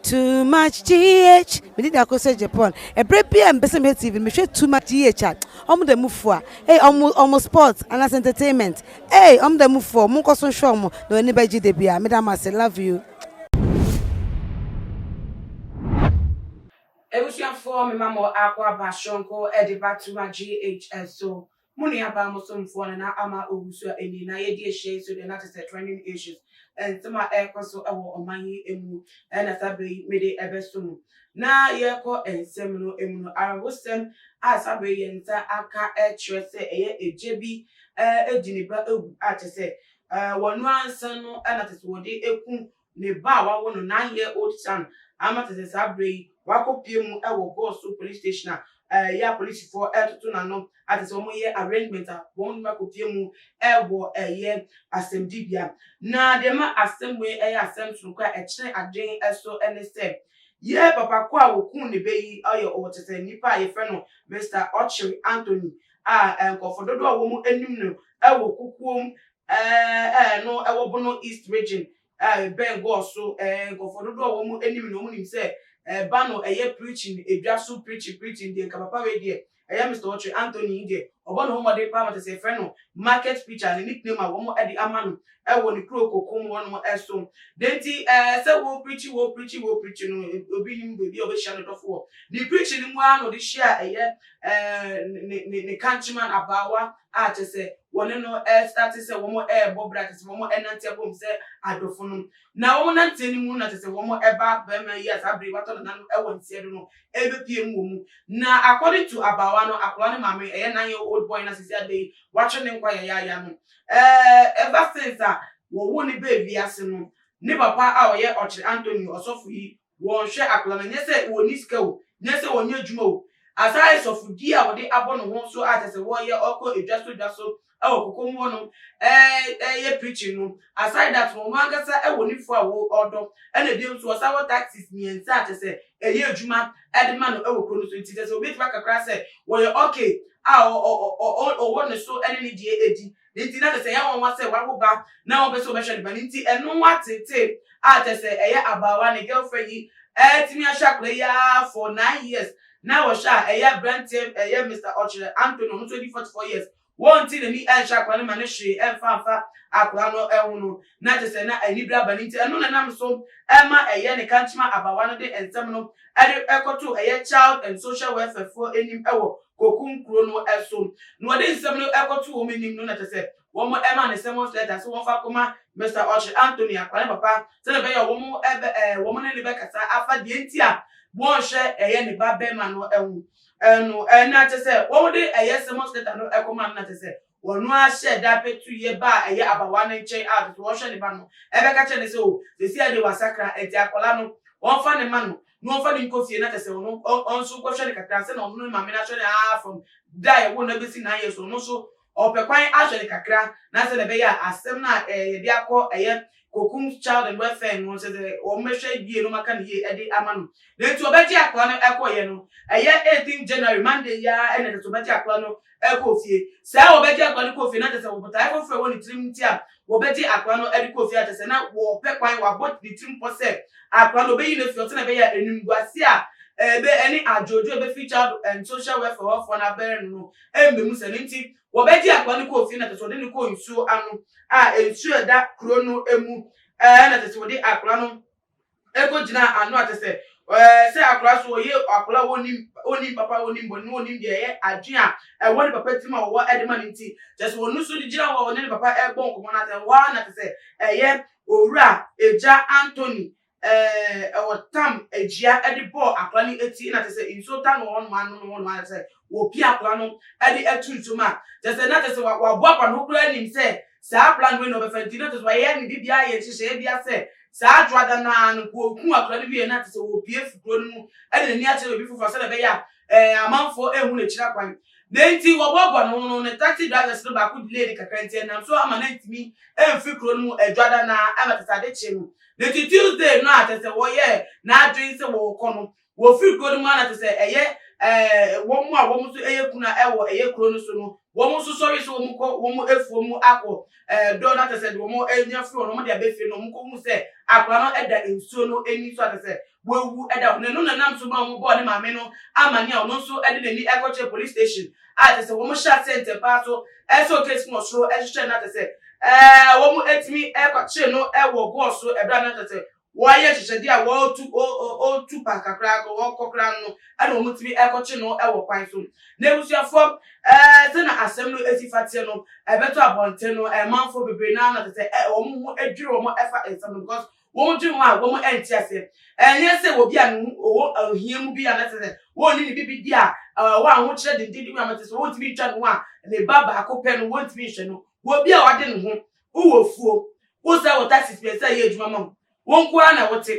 too much gh mede da ko sɛ japan ɛberɛ bi a mepɛ sɛ mehwɛ tv no mehwɛ too much gh a ɔmo da mu fua ei ɔmo ɔmo sport anaasɛ entertainment ei ɔmo da mu fua ɔmo nkɔ so nhwɛ ɔmo na w'ani bɛgye da bi a meda mo ase love you. Abusuafoɔ mema mo akɔ aba soronko de ba too much gh so Mo nuabaa Muslimfoɔ no na ama ɔhusuo a ɛnni na yɛadi ahyia yi so deɛ na kyesɛ trending issues, nsɛm a ɛrekɔ so wɔ ɔman yi mu na saa berɛ yi mede ɛbɛso mo. Na yɛrekɔ nsɛm no mu no, awerɛhosɛm a saa berɛ yi yɛn nsa aka kyerɛ sɛ ɛyɛ agya bi di ne ba awu a kyesɛ wɔn anksa no na kyesɛ wɔde aku Ne ba a wawo no nine year old son ama tete saa berɛ yi wakɔpue mu wɔ Gosu police station a ɛyɛ a polisifoɔ retoto n'ano atesɛ wɔn reyɛ arrangement a wɔn de no akɔpue mu wɔ ɛyɛ asɛmdibea. Na deɛ ɛma asɛm wei yɛ asɛm soronko a ɛkyere adwen so ne sɛ yɛ papa ko a wɔkuu ne bɛ yi ɔyɛ ɔtete nipa a yɛfrɛ no Mister Ochiri Anthony a nkurɔfoɔ dodoɔ a wɔn nim no wɔ kukuo mu Ɛɛ ɛɛ no ɛwɔ Bono East Region a ɛbɛn Gor so. Ɛɛ nkurɔfoɔ dodoɔ a wɔn anim no wɔn nim sɛ ɛɛ Bano ɛyɛ preaching edwa so preaching preaching deɛ nka papa wei deɛ ɛyɛ Mister Ɔtwe Anthony yi deɛ ɔbɔ ne ho mmɔden paa ma kyɛ sɛ yɛfrɛ no market preacher ne nickname a wɔn ɛde ama no ɛwɔ ne kuro Kokum hɔ nom ɛso. Deɛ nti ɛɛ sɛ wo preachi wo preachi wo preachi no obi nim baabi a ɔbɛhyia ne dɔfo wɔ. Ne preaching no mu ara na ɔde hyia ɛyɛ ɛɛ ne ne ne countryman abaawa a kyerɛ sɛ wɔne no restate sɛ wɔrebɔ bra, kyerɛ sɛ wɔrenante abom sɛ adɔfonom. Na wɔnanteɛ no mu no na kyerɛ sɛ wɔba barima yi a saa bere yi watɔ ne nan wɔ nteɛ do no rebepue mu wɔ mu. Na according to abaawa no, akwadaa no maame, ɛyɛ nine year old boy no a seesei adɛ yi watwe ne nkwa yayaaya no, eh, ever since a wɔwoo no baa wiase no, ne papa a ɔyɛ Ɔkyere Antonio, ɔsɔfo yi, wɔnhwɛ akora no, nyɛ sɛ wɔnni sika o, nyɛ sɛ wɔnyɛ adwuma o, asaa ɛsɔfodie a wɔde abɔ ne ho so a kyɛ sɛ wɔyɛ, ɔkɔ edwa so dwa so wɔ kokoam hɔ nom yɛ preaching no, aside that no, ɔno ankasa wɔ ne fua a ɔdɔ, ɛna bio nso ɔsan wɔ taxis mmiɛnsa a kyɛ sɛ ɛyɛ adwuma de ma no wɔ kuro no so, nti kyɛ sɛ wobɛtumi aka koraa sɛ wɔyɛ okay a ɔwɔ ne so ne ne deɛ di, Ne nti, na kyerɛ sɛ ɛyɛ nwanwa sɛ wawo ba na ɔmpɛ sɛ ɔbɛhwɛ ne ba no. Nti ɛno nwa tete a kyerɛ sɛ ɛyɛ abaawa, ne girlfriend yi atumi ahwɛ akwadaa yi ara for nine years. Na wɔhwɛ a ɛyɛ abranteɛ, ɛyɛ Mister Ɔkyerɛ Anthony, ɔno nso adi forty four years. Wɔnte n'ani nhyɛ akwadaa no ma no hwee ɛmfa amfa akwadaa no ho no, na kyerɛ sɛ na anibere aba. Ne nti ɛno na ɛnam so ma ɛyɛ ne kankyema abaawa no de nsɛm no de kɔto ɛyɛ Child and Social Welfare foɔ anim wɔ kokum kuro no so, na wɔde nsɛm no kɔtoo wɔn anim no na kyerɛ sɛ wɔmaa no summons letter sɛ wɔmfa nkɔma Mister Ɔkyere Anthony Akwaa ne papa sɛdeɛ ɛbɛyɛ a wɔbɛ ɛɛ wɔn ne no bɛkasa afa deɛ nti a wɔnhwɛ ɛyɛ ne ba bɛrima no ho ɛno ɛna kyerɛ sɛ wɔde ɛyɛ summons letter no kɔma no na kyerɛ sɛ Wɔn ara hyɛɛ da petu yɛ ba a ɛyɛ abawa no nkyɛn a ɔpɛ sɛ ɔhwɛ ne ba no. Ɛbɛka kyerɛ no sɛ, O, seesei ara deɛ wasakra, enti akwadaa no, wɔmfa no mma no, na wɔmfa no nkɔ fie, na kyerɛ sɛ, ɔno, ɔno nso nkɔhwɛ no kakra, ansa na ɔno ne ne maame no ahwɛ no aa from da a yɛwoo no abɛsi nnɛ ayɛ. So ɔno nso ɔpɛ kwan ahwɛ no kakra, na sɛdeɛ ɛbɛyɛ a asɛm no a yɛde akɔ ɛyɛ kokum child and welfare no sɛ sɛ wɔn bɛhwɛ yie no maka no yie ɛde ama no na nti ɔbɛgye akora no ɛkɔyɛ no ɛyɛ 18 January Monday yi ara ɛna ɛsɛ sɛ ɔbɛgye akora no ɛkɔ fie saa ɔbɛgye akora no kɔ fie na kyɛ sɛ wɔbotae foforɔ wɔ ne tirim nti a wɔbɛgye akora no ɛde kɔ fie akyɛ sɛ na wɔpɛ kwan wɔabɔ ne tirim pɔ sɛ akora no ɔbɛyi no fie ɔsɛ na ɛbɛyɛ a animguase a ɛbɛ ɛne adwoodwo ɛbɛfiri child and social welfare hɔfoɔ no abɛrɛ no no ɛmmɛmu sɛ ne nti Wɔbɛgyee akoa no kɔɔ fie na kyerɛ sɛ wɔde no kɔɔ nsuo ano a nsuo a ɛda kuro no mu ɛɛ na kyerɛ sɛ wɔde akoa no ɛkɔgyinaa ano a kyerɛ sɛ ɛɛ sɛ akoa so ɔyɛ akoa a ɔnim ɔnim papa ɔnim bɔne na ɔnim deɛ ɛyɛ adwene a ɛwɔ ne papa tirim a ɔwɔ ɛde ma no nti kyerɛ sɛ ɔno nso de gyina hɔ a ɔne ne papa ɛbɔ nkɔmmɔ no atɛ hɔ ara na kyerɛ sɛ ɛyɛ owura agya Anthony Ɛwɔ tam agyia de bɔɔ akora no ti na kyerɛ sɛ nsuo ta no wɔ hɔnom ano no hɔnom a kyerɛ sɛ wɔpia akora no de atu nsuo mu a kyerɛ sɛ na kyerɛ sɛ waboaboa ne ho koraa nim sɛ saa plan wei na ɔbɛfa nti na kyerɛ sɛ wayɛ ne biribiara yɛ nhyehyɛeɛ bia sɛ saa dwoada no ara no nka ɔku akora no wie na kyerɛ sɛ wɔpie fi kuro no mu de n'ani akyerɛ baabi foforɔ sɛdeɛ ɛbɛyɛ a amanfoɔ ɛhu n'akyiri akwan na nti wɔboaboa ne ho no ne taxi drivers no baako delayed kakra nti ɛnam so ama no ntumi mfiri kuro no mu adwoada no ara ɛma kyerɛ sɛ ade kye no Na ci Tuesday no a kyerɛ sɛ wɔyɛɛ n'adwene sɛ wɔrekɔ no, wɔfiri kuro no mu ara na kyerɛ sɛ ɛyɛ eh, wɔn a wɔn nso yɛ kuna wɔ ɛyɛ kuro no so no, wɔn nso sɔre sɛ wɔn kɔ wɔn afuo mu akɔ eh, dɔ no akyɛ sɛ deɛ wɔn anya firi hɔ no wɔn de abɛfie no, wɔn kɔhu sɛ akwadaa no da nsuo no ani so akyɛ sɛ wawu da hɔ. N'anu na nam so maa wɔbɔɔ ne maame no amanneɛ a ɔno nso de n'ani kɔkyerɛɛ police station a kyerɛ sɛ wɔhyɛ aseɛ ntɛmpa ara so sɔ case no wɔ soro hwehwɛ no kyerɛ sɛ wɔatumi akɔkyere no wɔ goɔ so berɛ a na kyerɛ sɛ wɔayɛ nhyehyɛdeɛ a wɔretu ɔretu pa kakra wɔkɔ koraa no no ɛna wɔtumi kɔkye no wɔ kwan so. N'abusuafoɔ sɛna asɛm no si fa teɛ no ɛbɛtɔ abɔnten no manfoɔ bebree no ara na kyerɛ sɛ wɔn ho dwiri wɔn fa nsɛm no because Wɔn dwen ho a wɔn nte aseɛ. Ɛnyɛ sɛ obi a ne ho ɔwɔ ohia mu bi anaasɛ sɛ wɔnni ne biribi di a ɔwɔ ahokyerɛ denden mu anaasɛ sɛ wɔntumi ntwa ne ho a ne ba baako pɛ no wɔntumi nhwɛ no. Obi a ɔde ne ho, wowɔ afuo, wosan wɔ taxi pɛ sɛ ɛyɛ adwuma ma wo, wo nko ara na wote.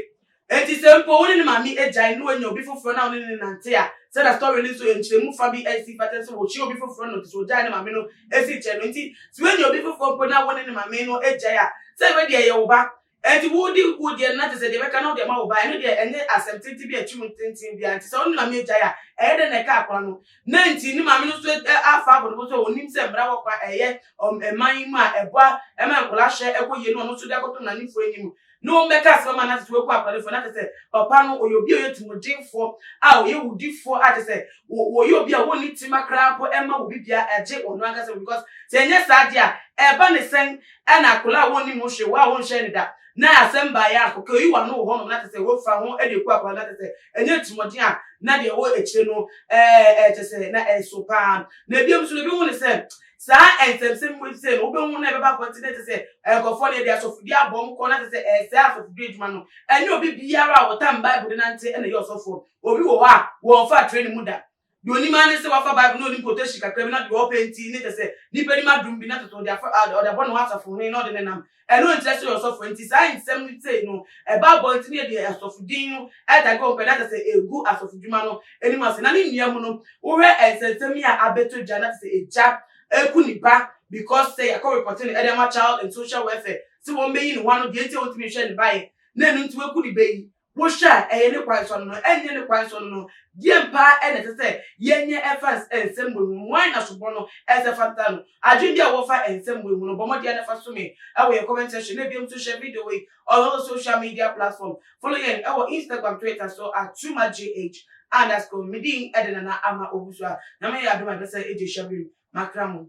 Enti sɛ mpo wo ne ne maame agyae na wanya obi foforɔ na wo ne no nante a, sɛdeɛ story no nso nkyerɛmu fa bi si fata sɛ wɔkyeaa obi foforɔ na ɔde sɛ ɔgyae ne maame no esi kyerɛ no. Enti, sɛ woanya obi foforo mpo na wo ne no ma mee no agyae a, sɛ ɛbɛ deɛ ɛyɛ wo ba. Enti, wodi wo deɛ no na kyerɛ sɛ deɛ ɛbɛka na wode ama wo ba a, ɛno deɛ ɛnyɛ asɛm tenten bi a ɛtwe mu tenten biara. Enti, sɛ wo ne no ma mee gyae a, ɛyɛ dɛn na ɛka akora no? Dɛn nti? Ne maame no nso afa abɔ ne bo sɛ onim sɛ mmara wɔ kwan a ɛyɛ wɔ mman yi mu a ɛboa ma nkwadaa hwɛ kɔ yie no ɔno nso de akɔto mmaranimfoɔ anim. na wɔbɛka asɛm ama no ase sɛ wɔaku akwalefo na kyerɛ sɛ papa no ɔyɛ obi a ɔyɛ tumudinfoɔ a ɔyɛ wudifoɔ a kyerɛ sɛ wɔyɛ obi a wɔnni tema koraa mpo ɛma wɔ bibia ɛgye ɔno ankasa because sɛ ɛnyɛ saa deɛ a ɛba ne sɛn ɛna akwalaa a wɔnni mu hwee wɔ a wɔnhyɛ ne da na asɛm baeɛ a kɔkɛ oyi wano wɔ hɔnom na kyerɛ sɛ wɔfa ho ɛde ku akwalaa na kyerɛ sɛ ɛnyɛ tumɔden a na deɛ ɛwɔ akyire no ɛɛ kyerɛ sɛ na ɛso paa na ebi nso ebi hu ne sɛ Saa nsɛmnsɛm mu efisɛ no wobɛhu na ɛbɛba abɔnten na ɛsɛ sɛ nkurɔfoɔ na ɛde asɔfodie abɔ wɔn kɔn na ɛsɛ sɛ ɛsɛe asɔfodie adwuma no. Ɛnyɛ obi biara a ɔtam Bible de nante na ɛyɛ ɔsɔfoɔ. Obi wɔ hɔ a, wɔmfaa training mu da. Deɛ ɔnim ara ne sɛ wafa Bible na ɔnim quotation kakra bi na deɛ ɔpɛ nti ne kyerɛ sɛ nnipa nim adom bi na toto ɔde afa, ɔde abɔ ne ho asafohene na ɔde nenam Ɛno nkyerɛ sɛ ɔyɛ ɔsɔfo, enti saa nsɛm no sei no ɛba abɔnten yɛ deɛ asɔfo din no da gɔn pɛ na kyerɛ sɛ ɛgu asɔfodwuma no anim ase. Na ne nua mu no, wohwɛ nsɛnsɛm yi a abɛtɔ dwa na kyerɛ sɛ agya reku ne ba because sɛ yɛakɔ repɔte no de ama Child and Social Welfare sɛ wɔmmɛyi ne ho ano deɛ nti a ɔntumi nhwɛ ne ba yɛ na ɛno nti waku ne ba yi, Bɔhyɛ a ɛyɛ ne kwan so no, ɛnyɛ ne kwan so no, deɛn paa na ɛsɛ sɛ yɛnyɛ ɛfa nsɛmmɔne ho? Hwan na soboɔ no ɛsɛ sɛ ɛfata no? Adwene bi a wowɔ fa nsɛmmɔne ho no, bɔ mmɔden ara na fa so me wɔ yɛn comment section na bio nso share video wei on all social media platform. Follow yɛn wɔ Instagram, Twitter so at twumagh underscore. Me din de Nana Ama Owusu a Nyame ayɛ adom a yɛbɛsan adi hyɛberem. Makra mo.